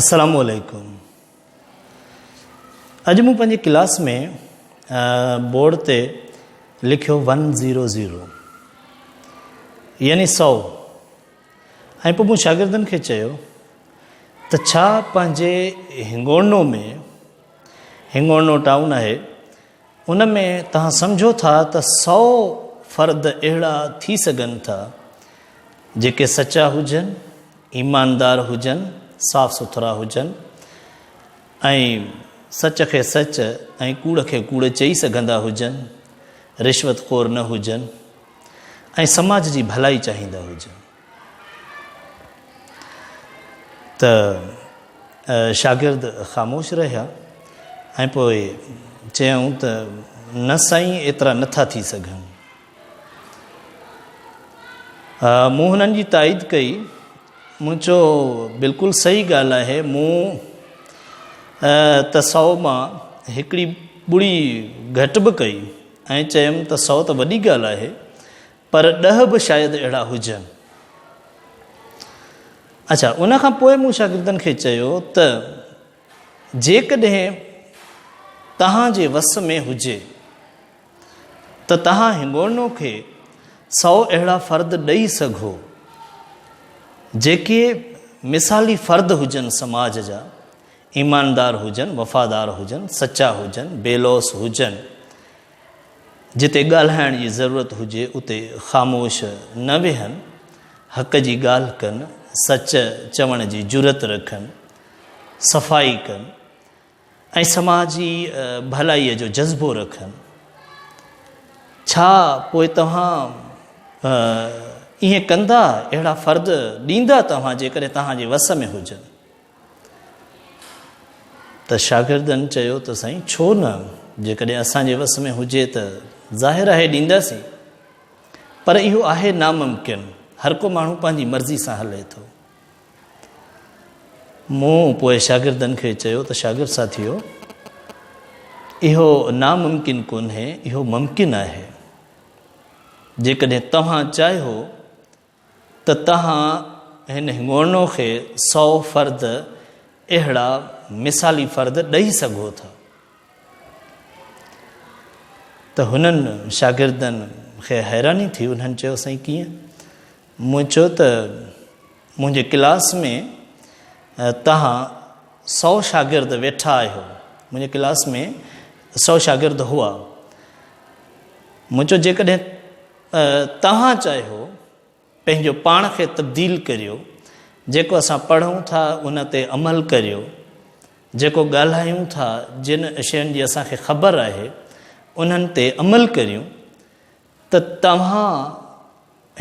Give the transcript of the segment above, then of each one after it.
السلام عليڪم اڄ مون پنهنجي ڪلاس ۾ بورڊ تي لکيو ون زيرو زيرو يعني سو ۽ پوء مون شاگردن کي چيو ته ڇا پنهنجي هنگوڻو ۾ هنگوڻو ٽائون آهي ان ۾ توهان سمجهو ٿا ته سؤ فرد اهڙا ٿي سگهن ٿا، جيڪي سچا هجن، ايماندار هجن، صاف سٿرا هجن ۽ سچ کي سچ ۽ ڪوڙ کي ڪوڙ چئي سگهندا هجن، رشوت خور نه هجن ۽ سماج جي ڀلائي چاهيندا هجن. ته شاگرد خاموش رهيا ۽ پوء چيائون ته نه سائين ايترا نه ٿا ٿي سگهن. مون هنن جي تائيد ڪئي مون چو بلڪل صحيح ڳالهه آهي مون ته سؤ مان هڪڙي ٻڙي گهٽ به ڪئي ۽ چيم ته سؤ ته وڏي ڳالهه آهي پر ڏهه به شايد اهڙا هجن. اڇا، ان کان پوء مون شاگردن کي چيو ته جيڪڏهن توهان جي وس ۾ هجي ته توهان هنگوڻو کي سئو اهڙا فرد ڏئي سگهو، جيڪي مثالي فرد هجن سماج جا، ايماندار هجن، وفادار هجن، سچا هجن، بي لوث هجن، جتي ڳالهائڻ جي ضرورت هجي اتي خاموش نه ويهن، حق جي ڳالهه ڪن، سچ چوڻ جي جرئت رکن، صفائي ڪن ۽ سماجي ڀلائي جو جذبو رکن. ڇا پوء توهان ائين ڪندا؟ اهڙا فرد ڏيندا توهان جيڪڏهن توهان جي وس ۾ هجن. ته شاگردن چيو ته سائين ڇو نه جيڪڏهن اسان جي وس ۾ هجي ته ظاهر آهي ڏينداسين پر اهو آهي ناممڪن هر ڪو ماڻهو پنهنجي مرضي سان هلي ٿو مون پوء شاگردن کي چيو ته شاگرد ساٿيو اهو ناممڪن ڪونهي اهو ممڪن آهي جيڪڏهن توهان چاهيو ته توهان هن هڱورنو کي سؤ فرد اهڙا مثالي فرد ڏئي سگهو ٿا ته هنن شاگردن کي حيراني ٿي انهن چيو سائين ڪيئن مون چيو ته منهنجي ڪلاس ۾ توهان سؤ شاگرد ويٺا آهيو منهنجي ڪلاس ۾ سؤ شاگرد هئا مون چيو جيڪڏهن توهان چاهيو پنهنجو پاڻ کي تبديل ڪريو، جيڪو اسان پڙهون ٿا ان تي عمل ڪريو، جيڪو ڳالهايون ٿا، جن شين جي اسان کي خبر آهي انهن تي عمل ڪريون ته توهان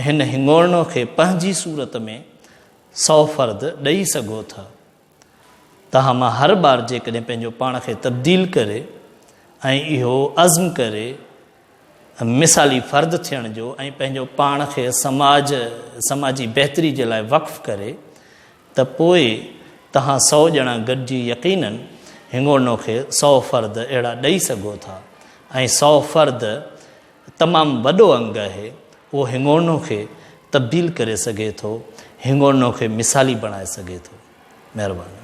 هن هڱورنو کي پنهنجي صورت ۾ سؤ فرد ڏئي سگهو ٿا. تاهم مان هر ٻار جيڪڏهن پنهنجو پاڻ کي تبديل ڪري ۽ اهو عزم ڪري مثالي فرد ٿيڻ جو ۽ پنهنجو پاڻ کي سماج سماجي بهتري جي لاء وقف ڪري ته پوء تهان سؤ ڄڻا گڏجي يقينن هنگوڙنو کي سؤ فرد اهڙا ڏئي سگهو ٿا ۽ سؤ فرد تمام وڏو انگ آهي، اهو هنگوڻو کي تبديل ڪري سگهي ٿو، هنگوڻو کي مثالي بڻائي سگهي ٿو. مهرباني.